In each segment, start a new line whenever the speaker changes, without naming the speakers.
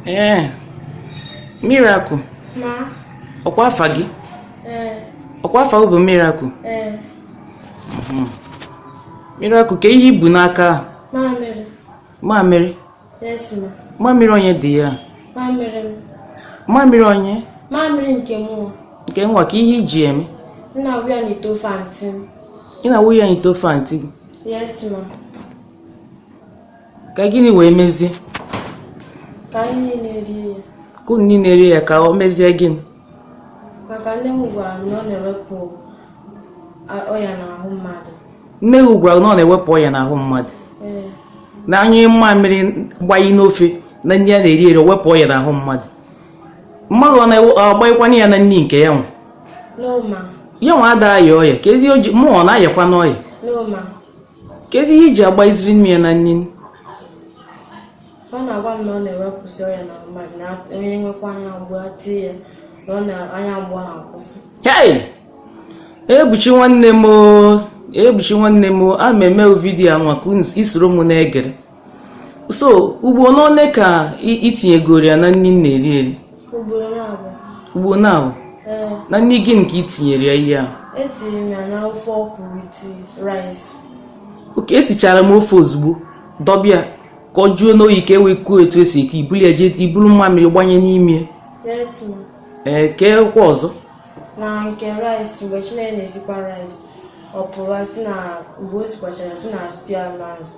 ee eh,
miracle ọkwa
afa gị eh. ọkwa afa bụ miracle eh. mhm. miracle kee ihe ibu n'aka
mamịrị mamịrị onye dị ya mamịrị
onye mamịrị nke
mụ nke nwa kee
ihe iji eme m na-awụ ya n'ite
ofe antị m ị na-awụ ya n'ite
ofe antị gị yes ma ka gịnị wee
mezie ka anyị niile rie ya ka unu niile rie
ya ka o mezie gịnị maka
nne m gwara m na ọ na-ewepụ a- ọya n'ahụ mmadụ nne gị gwara
na ọ na-ewepụ ọya n'ahụ mmadụ ee na a nyụọ mmamịrị gbayi n'ofe na nri a na-eri eri o wepụ ọya n'ahụ mmadụ mmadụ ọ na-agbayikwanụ ya na nri nke ya nwa no
ma ya nwa ada aya
ọya keezi oji mụ ọ na-ayakwanụ ọya no ma
keezi
ihe iji agbayiziri mụ ya na
nri ọ na-agwa m na ọ na-ewepụsị ọya n'ahụ mmadụ na onye nwekwa anya mgbu ati ya na ọ na anya mgbu ahụ akwụsị
hei ebuchi nwanne m ebuchi nwanne m ana m eme vidiyo a nwa ka isoro m na-egere so ugbo none ka itinyegoro ya na nri na-eri
eri ugbo naabọ
na nri gịnị ka itinyere ya ihe
ahụ oke
esichara m ofe ozugbo dọbe ya ka ọ jụọnụ oyi ka e wee kuo etu esi eku ibuli ya jee iburu mmamịrị gbanye
n'ime ee kee
kwa ọzọ na nke
rice mgbe chinenye na-esikwa rice ọ pụrụ si na mgbe o sikwachara sị na stew ama ezu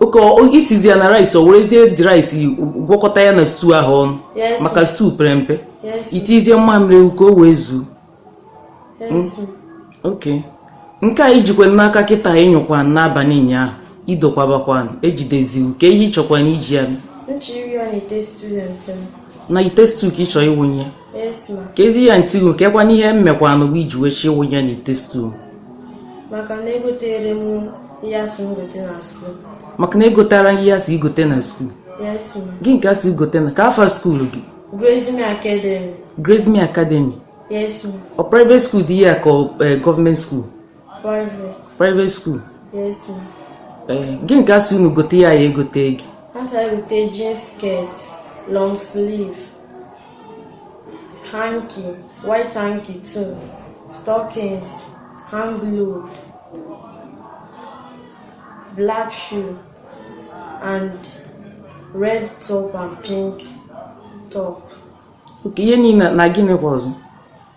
oke eh?
itizi ya na rice o werezie the rice gwọkọta ya na stew ahụ ọnụ maka stew pere mpe itizie mmamịrị ka o wee zuo hmm? oke nke a ijikwa n'aka kịta ịnyụkwa n'abalị ụnyaahụ idokwabakwa ejidezi gị kee ihe ịchọkwanụ iji ya n'ite stew ka ị chọọ ịwụnye keezi ihe antị gị kekwanụ ihe m mekwanụ gị iji wee chọọ ịwụ ya n'ite stuu maka
na egoterọ m ihe asị m gote na skuul maka na egotarọ
ihe asị gị gote na skuul gịnị
ka asị gị gote na
kee afa skuul gị
Grazing Academy Grazing Academy ọ private skuul dị
ya ka eh, gọọmenti skuul private school
eh, gịnị ka asị
unu gote ya ya egote gị asị anyị
gote jean skirt long sleeve hanky white hanky two stockings hand glove black shoe and red top and pink top.
ihe niile na gịnị kwa ọzọ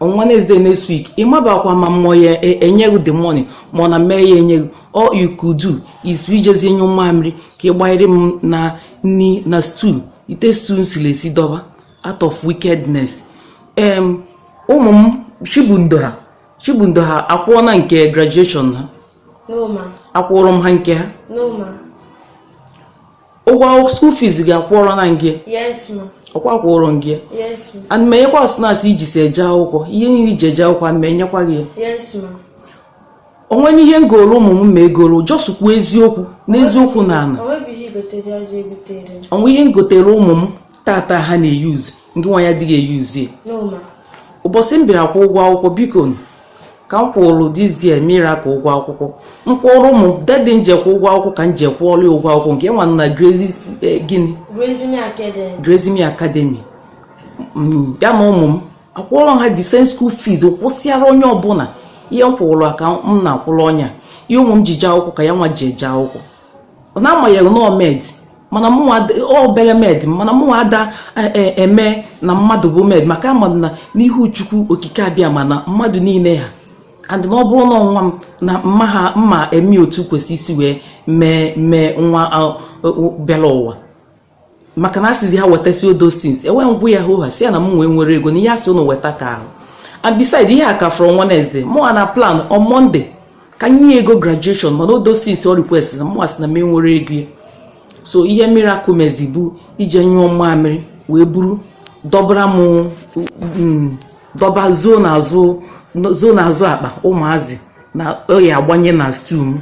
on wednesday next week ị mabakwa ma mụ ọ ya e, enye gị the money ma ọ na m aya enye gị all you could do is ijezi nyụọ mamịrị ka ị gbanyere m na nri na stew ite stew m siri esi dọba out of wickedness em ụmụ m chibundo ha chibundo ha akwụọna nke graduation ha
akwụrụ m ha nke ha
ụgwọ school fees gị akwụọrọna m gị
ọkwa akwụọrọ m
gị ana
m enyekwa
snacks iji si eje akwụkwọ ihe niile iji eje akwụkwọ ana m enyekwa gị ya
o
nwene ihe m goro ụmụ m ma egoro just kwuo eziokwu n'eziokwu na ala o nwe ihe m gotere ụmụ m tata ha na-euse ngị nwa ya adịghị euse ya
ụbọchị m bịara
kwụ ụgwọ akwụkwọ biko ka m kwụrụ this girl miracle ụgwọ akwụkwọ m kwụrụ ụmụ m that day m je kwụ ụgwọ akwụkwọ ka m je kwụọrọ ụgwọ akwụkwọ nke ya nwa na eh, gịnị Grace Academy mm, ya na ụmụ m akwụọrọ ha the same school fees kwụsịara onye ọbụla ihe m kwụrụ ka m na-akwụrụ onye a ihe ụmụ m ji jee akwụkwọ ka ya nwa ji eje akwụkwọ na amaghị na ọ maid mana mụnwa obere maid mana mụnwa ada e, e, eme na mmadụ bụ maid maka ama m na n'ihu chukwu okike abiama na mmadụ niile ha and na ọ bụrụ na nwa m na mma ha mma eme otu kwesị isi wee mee mee nwa bịara ụwa maka na a sịzi ha wetasị all those things e wee m gwa ya hụ ha si ya na m enwe enwerọ ego na ihe asị ụnụ weta ka ahụ and beside ihe a ka from Wednesday mụnwa na plan on Monday ka m nye ego graduation mana all those things ọ request na mụnwa sị na m enwerọ ego so ihe miracle mezi bụ ije nyụọ mmamịrị wee buru dọbara m mm, dọba zoo n'azụ zoo n'azụ akpa ụmụazị na ọ ya-agbanye na stew m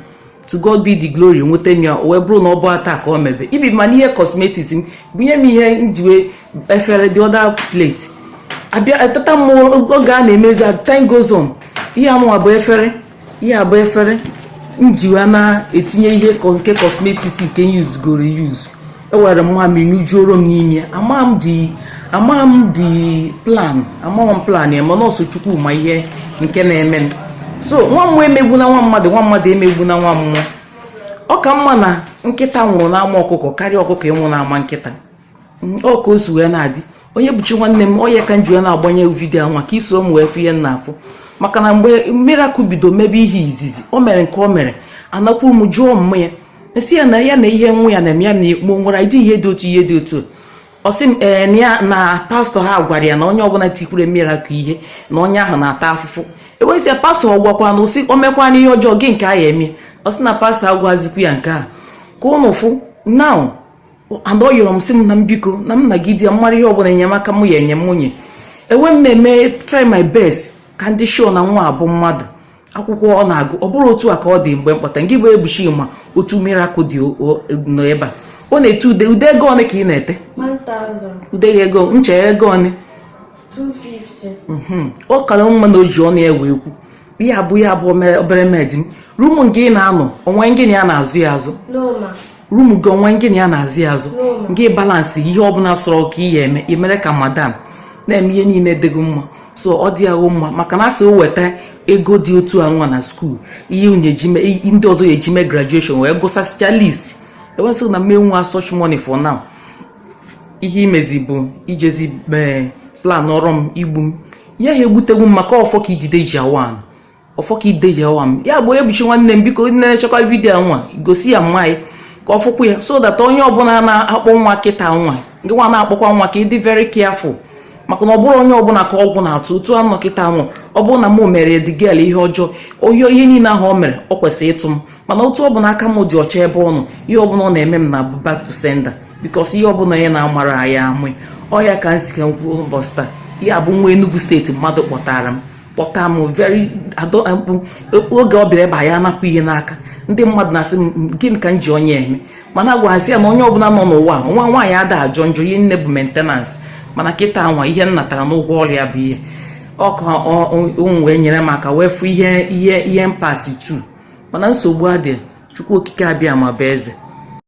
to God be the glory enweta m ya o wee bụrụ na ọ bụrọ taa ka o mebe even ma n'ihe cosmetics m bunye m ihe m ji wee efere the other plate but at that time oge a na-emezi as time goes on ihe a nụwa bụ efere ihe a bụ efere m ji wee na-etinye ihe ko- nke cosmetics nke m usegoro euse o were mamịrị nyụjuoro m n'ime ya amaghị m the amaghị m the plan amaghị m plan ya mana ọ sọ chukwu ma ihe nke na-eme m so nwa mmụọ emegbuna nwa mmadụ nwa mmadụ emegbuna nwa mmụọ ọ ka mma na nkịta nwụrụ n'ama ọkụkọ karịa ọkụkọ ịnwụ n'ama nkịta ọ ka o si wee na-adị onye bụchi nwanne m ọ ya ka m ji na-agbanye video nwa ka i soro m wee fụ ihe m na-afụ maka na mgbe miracle bido mebe ihe izizi o mere nke o mere anakwuru m jụọ mma ya m sị ya na ya na ihe nwa ya na-eme ya na ekpo nwere ịdị ihe dị otu ihe dị otu ọ sị m ee eh, ya na pastor ha gwara ya na onye ọbụla tikwuru miracle ihe na onye ahụ na-ata afụfụ e wee sị ya pastor ọ gwakwa na ụsị o mekwana ihe ọjọọ gị nke a ya eme ọ sị na pastor agwazikwu ya nke a ka ụnụ fụ now and ọ yọrọ m sị m na m biko na m nagide ya mara ihe ọbụla enyemaka m ya enye m nwunye enwe m na-eme try my best ka m dị sure na nwa a bụ mmadụ akwụkwọ ọ na-agụ ọ bụrụ otu a ka ọ dị mgbe m kpọta ngị bụ Ebuchi ma otu miracle dị nọ ebe a ọ na-ete ude ude ego one ka ị
na-ete ude
ya ego ncha ego one
mhm. ọ kara mma na o ji
ọnụ ya wee kwu ihe ọ bụ ya bụ obere maid m room nke ị na-anọ o nwe gị na ya na-azọ ya azọ room gị o nwe gị na ya na-azọ ya azọ gị balance ihe ọbụla sọrọ ka ị ya eme i mere ka madam na-eme ihe niile dịgo mma so ọ dịhọ mma maka na a sị o weta ego dị otu a nwa na school ihe ndị ọzọ ya eji mee graduation wee gụsasịcha least ewesịghị na mme nwa such money for now ihe i mezi bụ i jezi planụọrọ m igbu m ihe ha egbutegwu m maka ọfọ ka idide ji awa ọfọ ka idide ji awa anị ya bụ Ebuchi nwanne m biko nenechakwa vidiyo nwa gosi ya mma anyị ka ọ fụkwa ya so that onye ọbụla na-akpọ nwa kịta nwa gị nwa na-akpọkwa nwa ka ị dị very careful maka na ọ bụrọ onye ọbụla ka ọgwụ na-atụ otu a nọ kịta nwa ọ bụrụ na mụ mere the girl ihe ọjọọ oyi ihe niile ahụ o mere ọ kwesịrị ịtụ m mana otu ọbụla aka m dị ọcha ebe ọ nọ ihe ọbụla ọ na-eme m na-abụ back to sender because ihe ọbụla onye na-amara anyị amụ ọ ya ka m sị ka m kwuo ụbọchị taa ya bụ nwa Enugu steeti mmadụ kpọtara m kpọta m very adọ oge ọ bịara ebe a ya ana-apụ ihe n'aka ndị mmadụ na-asị m gịnị ka m ji onye a eme mana agwaghasị ya na onye ọbụla nọ n'ụwa nwa nwaanyị ada ajọ njọ ihe niine bụ maintenance mana kịta nwa ihe m natara n'ụgwọ ọrụ ya bụ ihe a ka ụnụ wee nyere m aka wee fụ ihe ihe ihe m passị through mana nsogbu adịghị Chukwu Okike Abịama bụ eze